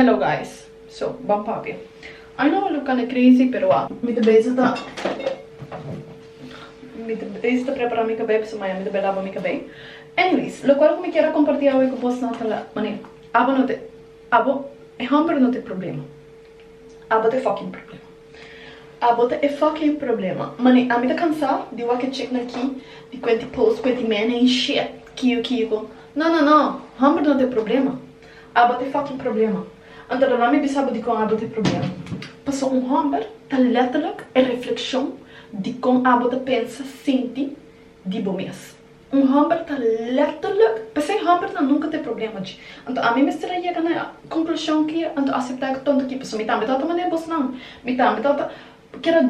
Hello guys so ban papia I know lo cana crazy pero a. Mi ta bezi ta mi ta bezi ta prepara mi cabei pasobra maña mi ta bai laba mi cabei anyways locual cu mi kier a comparti awe cu bos nan ta la mane abo no te abo e homber no te problema abo ta e fucking problema abo ta e fucking problema mane ami ta cansa di wak chic na aki di cuenti post cuenti mene y shit kico kico no no no homber no te problema. Abo t'e fucking problema. Anto lo lami bisabo dikon abo t'e problema. Paso un homber ta letterlijk e reflekshon di kon abo ta pensa, sinti, di bo mes. Un homber ta letterlijk, p'esei homber nan nunka t'e problema dje. Anto ami mester a yega na e konklushon ke anto asepta e tonto ki paso mi tambe tabata manera bosnan. Mi tambe tabata Keda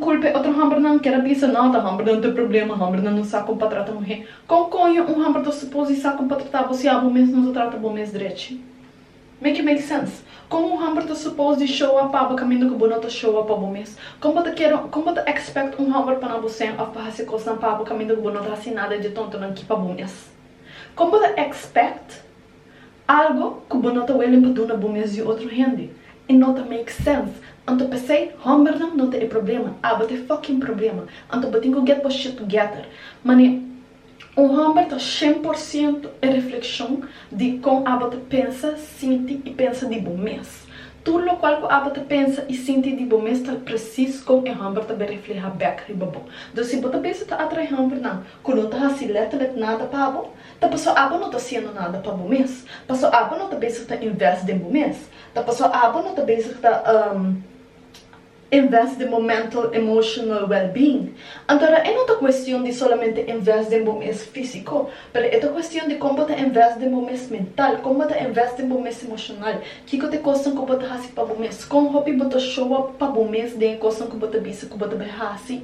culpa e otro hembernan, keda bisa no ta hembernan ta problema, hembernan no sa con pa trata muhe. Con coño un hember ta suposi sa con pa trata bo si abo mes no ta trata bo mes drechi? Make it make sense? Con un hember ta suposi di showa pabo caminda cu bo no ta showa pa bo mes? Con bo ta kere, con bo ta expect un hember pa na bo seng of pa haci cosnan pabo caminda cu bo no ta haci nada di e tontonan ki pa bo mes? Con bo ta expect? Algo cu bo no ta welen pa duna bo mes di otro hende e no ta make sense. Anto pesey hombernan no ta e problema, abo ta e fucking problema. Anto bo tin cu get bo shit together. Mane un homber ta shen por ciento e refleccion di con abo ta pensa, sinti y pensa di bo mes. Tur locual cu abo ta pensa y sinti di bo mes ta precies con e homber ta be refleha bek riba bo. Dus si bo ta bisa ta atrae hombernan cu no ta haci letterlijk nada pa bo, Ta paso abo no ta siendo nada pa bo mes. Paso abo no ta bezig ta invest den bo mes. Ta paso abo no ta bezig ta um invest den bo mental emotional well being. Antora e no ta cuestion di solamente invest den bo mes fisico, pero e ta cuestion di con bo ta invest den bo mes mental, con bo ta invest den bo mes emocional, kico ta e cosnan cu bo ta haci pa bo mes, con hopi bo ta show up pa bo mes den e cosnan cu bo ta bisa cu bo ta bay haci.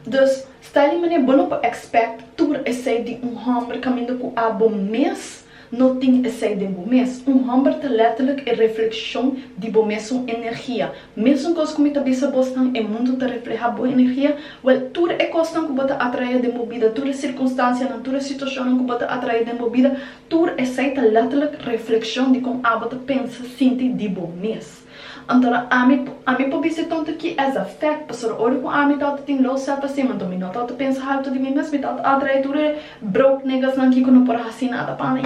Dus, sta li manera bo no por expect tur esey di un homber caminda cu a bo mes no tin esey den bo mes. Un homber ta letterlijk e refleccion di bo mesun energia. Mesun cos cu mi ta bisa bosnan, e mundo ta refleha bo energia. Wel, tur e cosnan cu bo ta atrae den bo bida, tur e circunstancianan, tur e situacionnan cu bo ta atrae den bo bida, tur esey ta letterlijk refleccion di con a bo ta pensa, sinti di bo mes. Anto ami ami por bisa tantu ki as a fek, pasobra ora ku ami ta ota tin low self esteem, anto mi no ta ota pensa haltu di mi mes, mi ta ota atrae tur e broke negasnan ki ku no por a hasi nada pa mi.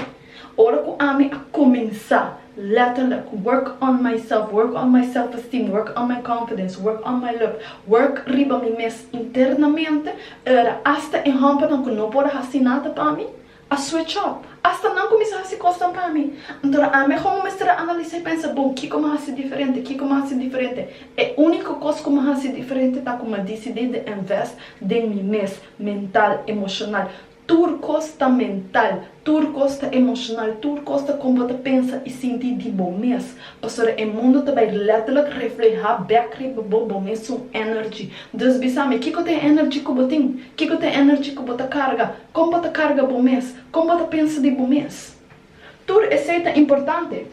Ora ku ami a kuminsá lètterlek work on myself, work on my self esteem, work on my confidence, work on my look, work riba mi mes internamente, era asta e hòmbernan ku no por a hasi nada pa mi, A switch up. Asta nan kuminsá hasi kosnan pa mi. Antora ami ahora mi mester a analisá i pensa, Bon, kiko mi a hasi diferente? Kiko mi a hasi diferente? E úniko kos ku mi a hasi diferente ta ku mi a disidí di invest den mi mes, mental, emoshonal. Tur kos ta mental, tur kos ta emoshonal, tur kos ta kon bo ta pensa i sinti di bo mes. Pasobra e mundu ta bai lètterlik reflehá bèk riba bo, bo mesun energy. Dus bisa mi, kiko ta e energy ku bo tin? Kiko ta e energy ku bo ta karga? Kon pa ta karga bo mes? Kon pa ta pensa di bo mes? Tur esei ta importante.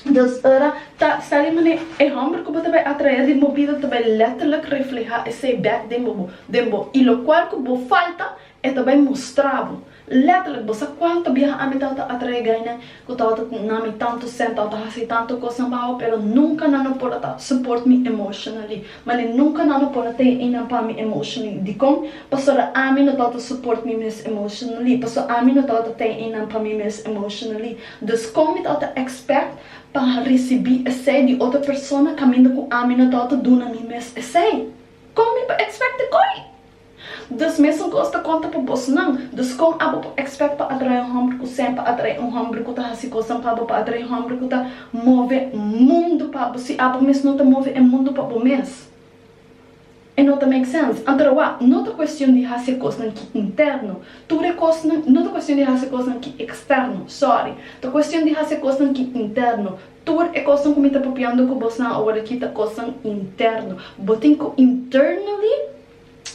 Dus ora ta sali manera e hòmber ku bo ta bai atraé den bo bida ta bai lèterlik reflehá esei bèk den bo, den bo. I lokual ku bo falta, e ta bai mustrá bo. Lèterlik, bo sa kuantu biaha ami tawata atraé gainan? Cu ta ota na mi tanto sentao ta haci tanto cosnan pa awa pero nunca nan no por a ta support mi emotionally mane nunca nan no por a ta eynan pa mi emotionally dicon? Pasobra ami no ta ota support mi mes emotionally pasobra ami no ta ota ta eynan pa mi mes emotionally dus con mi ta ota expect pa ricibi esey di otro persona caminda cu ami no ta ota duna mi mes esey? Con mi por expect di coy? Dus mesun kos ta konta pa bosnan. Dus kon abo por ekspèk pa atraé un hòmber ku sèn, pa atraé un hòmber ku ta hasi kosnan pa bo, pa atraé un hòmber ku ta move mundu pa bo, si abo mes no ta move e mundu pa bo mes? E no ta make sense. Anto roa, no ta kuestion di hasi e kosnan ki interno. Tur e kosnan, no ta kuestion di hasi e kosnan ki eksterno, sòri. Ta kuestion di hasi e kosnan ki interno. Tur e kosnan ku mi ta papiando ku bosnan aworakí ta kosnan interno. Bo tin ku internally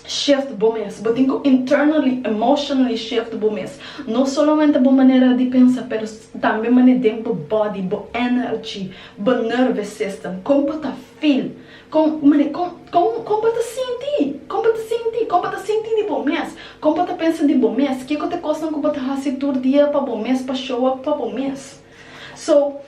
shift bo mes. Bo tin cu internally, emotionally shift bo mes. No solamente bo manera di pensa pero tambe mane den bo body, bo energy, bo nerve system. Con bo ta feel. Con, mane, con, con, con bo ta sinti. Con bo ta sinti. Con bo ta sinti di bo mes. Con bo ta pensa di bo mes. Kico ta cosnan cu bo ta haci tur dia pa bo mes, pa show up pa bo mes. So.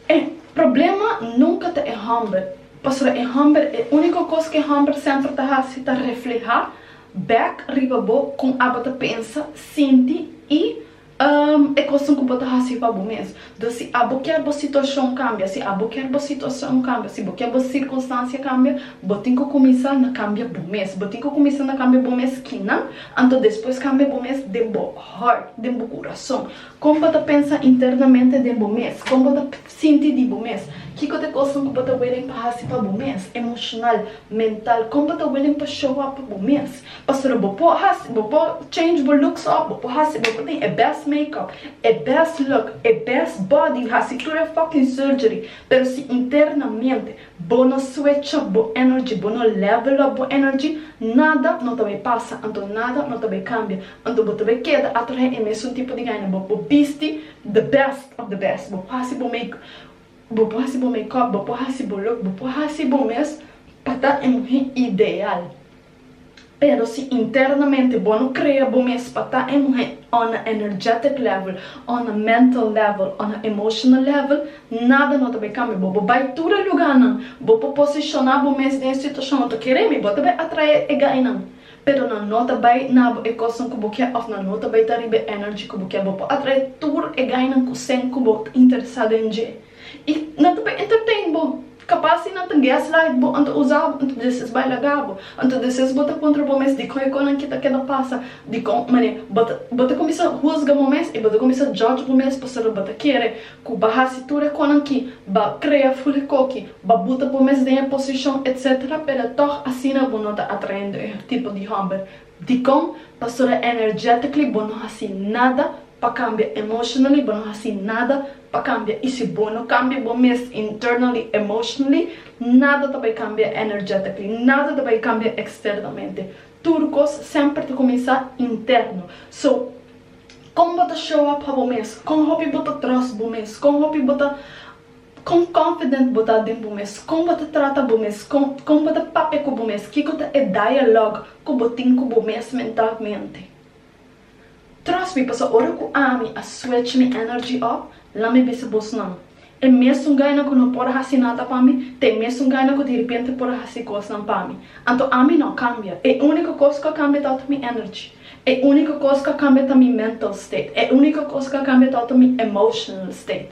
E problema nunka ta e hòmber, pasobra e hòmber e úniko kos ku e hòmber semper ta hasi ta reflehá bèk riba bo kon abo ta pensa, sinti i e kosnan ku bo ta hasi pa bo mes. Dor si abo kier bo situashon kambia, si abo kier bo situashon kambia, si bo kier bo sirkunstansia kambia, bo tin ku kuminsá na kambia bo mes. Bo tin ku kuminsá na kambia bo mes kinan? Anto despues kambia bo mes den bo hòrt, den bo kurason. Kon bo ta pensa internamente den bo mes? Kon bo ta sinti di bo mes? Kiko ta e kosnan ku bo ta welen pa hasi pa bo mes, emoshonal, mental? Kon bo ta welen pa show up pa bo mes? Pastori, bo por hasi, bo por change bo looks up, bo por hasi, bo por tin e best makeup, e best look, e best body, hasi tur e fucking surgery, pero si internamente Bo no swecha bo energy, bo no level up bo energy, nada no ta bay pasa, anto nada no ta bay cambia, anto bo ta bay keda atrahe e mesun tipo di gana, bo por bisti the best of the best, bo por hasi bo make, bo por hasi bo makeup, bo por hasi bo look, bo por hasi bo mes pa ta e muhe ideal. Pero si internamente bo no crea bo mes pa ta e muhe on a energetic level, on a mental level, on a emotional level, nada no ta bay cambia bo. Bo bay tur e lugarnan, bo por posiciona bo mes den e situacionnan, to kere mi, bo ta bay atrae e gainan, pero nan no ta bay na bo e cosnan cu bo ke of nan no ta bay ta riba e energy cu bo ke. Bo por atrae tur e gainan cu sen cu bo ta interesa den dje. I nan ta por entertain bo. Kapas si nan ta gaslight bo anto usa bo anto deses bai laga bo, anto deses bo ta puntra bo mes dikon e konan ki ta keda pasa, dikon mane bo ta bo ta kuminsa husga bo mes i bo ta kuminsa judge bo mes pasobra bo ta kere ku ba hasi tur e konan ki, ba krea ful e koki, ba buta bo mes den e posishon etsetera pero tog asina bo no ta atraendo e tipo di hòmber. Dikon Pastora Energetically bo no hasi nada pa kambia Emotionally bo no hasi nada pa kambia i si bo no kambia bo mes Internally, Emotionally nada ta bai kambia Energetically nada ta bai kambia externamente tur kos semper ta kuminsá interno so kon bo ta show up pa bo mes kon hopi bo ta trust bo mes kon hopi bo ta Kon confident bo ta den bo mes, kon bo ta trata bo mes, kon kon bo ta papia ku bo mes, kiko ta e dialog ku bo tin ku bo mes mentalmente. Trust mi paso ora ku ami a swech mi energy op, la mi bisa bos nan, e mesun gaina ku no por hasi nada pa mi ta e mesun gaina ku direpente por a hasi kosnan pa mi. Anto ami no kambia, e uniko kos ku a kambia ta oto mi energy, e uniko kos ku a kambia ta mi mental state, e uniko kos ku a kambia ta oto mi emotional state.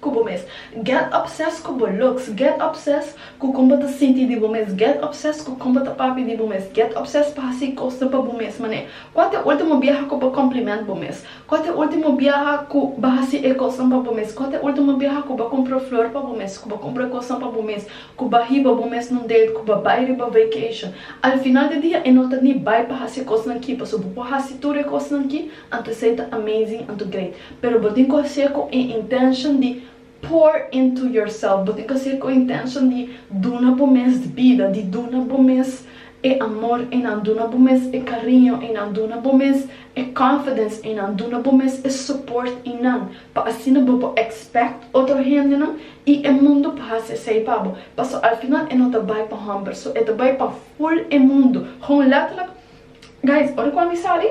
ku bo mes. Get obsessed ku bo looks. Get obsessed ku kon bo ta sinti di bo mes. Get obsessed ku kon bo ta papia di bo mes. Get obsessed pa hasi kosnan pa bo mes manera. Kua ta e ultimo biaha ku bo kompliment bo mes? Kua ta e ultimo biaha ku bo hasi e kosnan pa bo mes? Kua ta e ultimo biaha ku bo kumpra un flor pa bo mes, ku bo kumpra kosnan pa bo mes, ku bo hiba bo mes na un date, ku bo bai riba vacation? Al final di dia e no ta ni bai pa hasi e kosnan ki, pasobra bo por hasi tur e kosnan ki. Anto esei ta amazing, anto great. Pero bo tin ku hasi'e ku e intention di pour into yourself. Bo tin ku hasi'e ku e intention di duna bo mes bida, di duna bo mes e amor einan, duna bo mes e kariño einan, duna bo mes e confidence einan, duna bo mes e support einan, pa asina bo por expect otro hendenan i e mundu pa hasi esei pa bo. Paso al final e no ta bai pa hòmber, so e ta bai pa full e mundu. Gewoon letterlijk, guys, ora ku ami sali,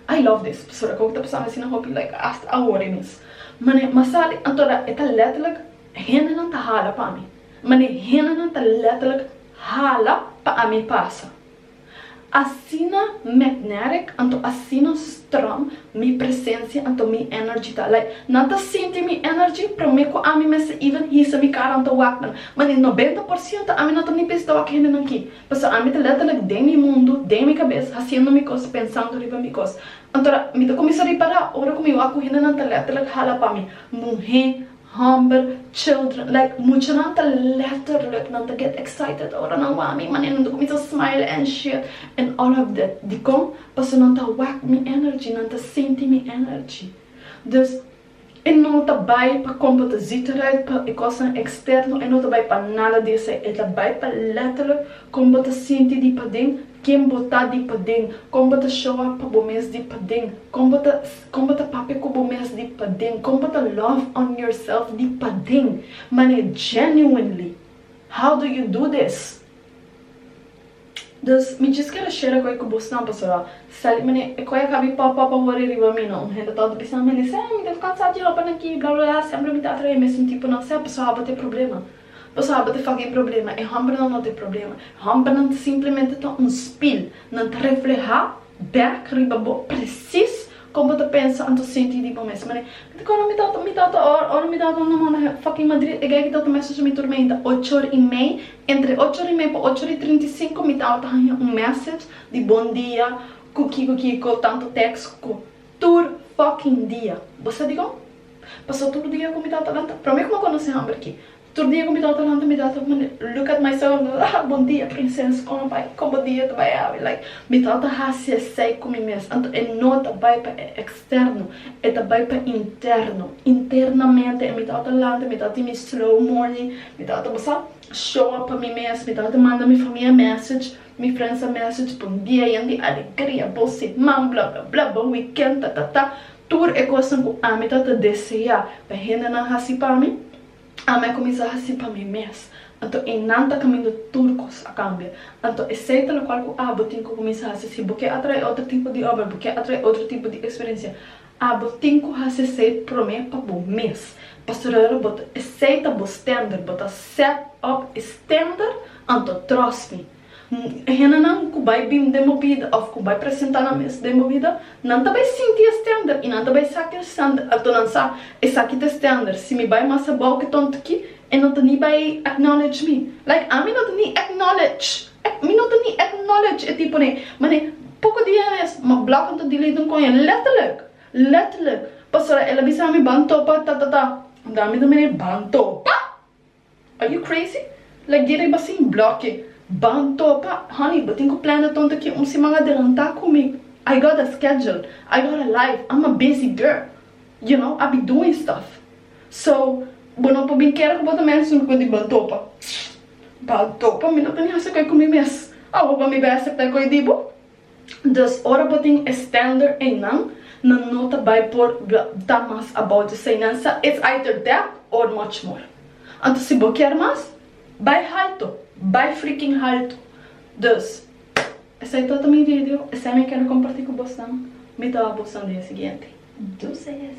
I love this pasobra como ta pasando asina hopi like hasta ahora mes mane masali antora e ta letterlijk hendenan ta hala pa mi mane hendenan ta letterlijk hala pa ami pasa asina magnetic anto asina strong mi presencia anto mi energy ta like nan ta sinti mi energy prome cu ami mester even hisa mi cara anto wak nan mane noventa por ciento ami no ta ni pensa ta wak hendenan aki. Pasobra ami ta letterlijk den mi mundo, den mi cabes, haciendo mi cos, pensando riba mi cos. Anto a mi ta cuminsa ripara ora cu mi wacuhina nan ta letterlijk hala pa mi, muhe, homber, children, like muchanan ta letterlijk nan ta get excited ora nan wak mi, manera nan ta cuminsa smile and shit and all of that. Dicon? Paso nan ta wak mi energy, nan ta sinti mi energy. Dus. E no ta bai pa komper ta zichterheid pa e kosnan eksterno, e no ta bai pa nada di esei, e ta bai pa letterlijk kon bo ta sinti di paden, ken bo ta di paden, kon bo ta showa pa bo mes di paden, kon bo ta kon bo ta papia ku bo mes di paden, kon bo ta love on yourself di paden, mane genuinely. How do you do this? Dus mi djis keda shera ku e ku bus nan pasobra sali mane e koe a kabi pop pop a wori riba mi no un hende tonto a bisa mane sey mi def kansa di ropanan aki bla bla bla semper mi ta atrae e mesun tipo nan sey paso abo te problema paso abo te fucking problema e hombernan no te problema e hombernan simplemente ta un spil nan ta refleha Bek riba bo presis kon bo ta pensa an ta sinti di bo mes manera. Mi ta kòrda mi tata, mi tata or ora mi tata no manda he fucking Madrid e geiken tata mes a su mi turmenta ocho ora i mei, entre ocho ora i mei pa ocho ora i trinta i sinku mi tata ta haña un message di bon dia ku kiko kiko tantu teks ku tur fucking dia. Bo sa dikon? Pasa tur dia ku mi tata lanta. Promé ku mi a konosé hòmber aki. Tur dia cu mi tata lanta mi tata mane look at my son ah bon dia princess con a bay con bo dia ta bay abi like mi tata haci esey cu mi mes anto e no ta bay pa e externo e ta bay pa interno internamente mi tata lanta mi tata tin mi slow morning mi tata bo sa show up pa mi mes mi tata manda mi famia message mi friends a message bon dia yen di alegria bon seman bla bla bla bon weekend ta ta ta tur e cosnan cu ami tata desea pa hendenan haci pa mi Ami a kuminsá hasi pa mi mes, anto e nan ta kaminda tur kos a kambia. Anto esei ta lokual ku abo tin ku kuminsá hasi. Si bo ke atrae otro tipo di obra, bo ke atrae otro tipo di eksperensia, abo tin ku hasi esei promé pa bo mes. Pastor Herrera bo ta esei ta bo stender, bo ta set up e stender, anto tròst mi. Hendenan ku bai bin den bo bida òf ku bai presentá nan mes den bo bida, nan ta bai sinti e stènder i nan ta bai sa ku e stènder ato nan sa, Esaki ta e stènder, si mi bai mas abou ku tònt aki, e no ta ni bai acknowledge mi. Like, ami no ta ni acknowledge, ack, mi no ta ni acknowledge e tipo dje manera. Poko dia mes, m'a block en ta delete un koña, letterlijk, letterlijk, pasobra el a bisa mi ban topa, ta ta ta. Anto ami ta manera, ban topa? Are you crazy? La guerra iba sin bloke. Ban topa. Honey, bo tin ku plana tonto ki un siman adelantá ku mi. I got a schedule. I got a life. I'm a busy girl. You know, I be doing stuff. So, bo no por bin kere ku bo ta mester sulu konti ban topa. Ban topa? Mi no ta ni hasi koe ku mi mes. Awo bo mi bai aseptá e koe di bo? Dus ora bo tin e standaard eynan nan no ta bay por ta mas about di sainansa, it's either that or much more. Anto si bo kier mas, bay halto, bay freaking halto. Dus, esey todo mi video, esey mi kende comparti cu bosnan, mi ta wak bosnan dia siguiente. Deuces!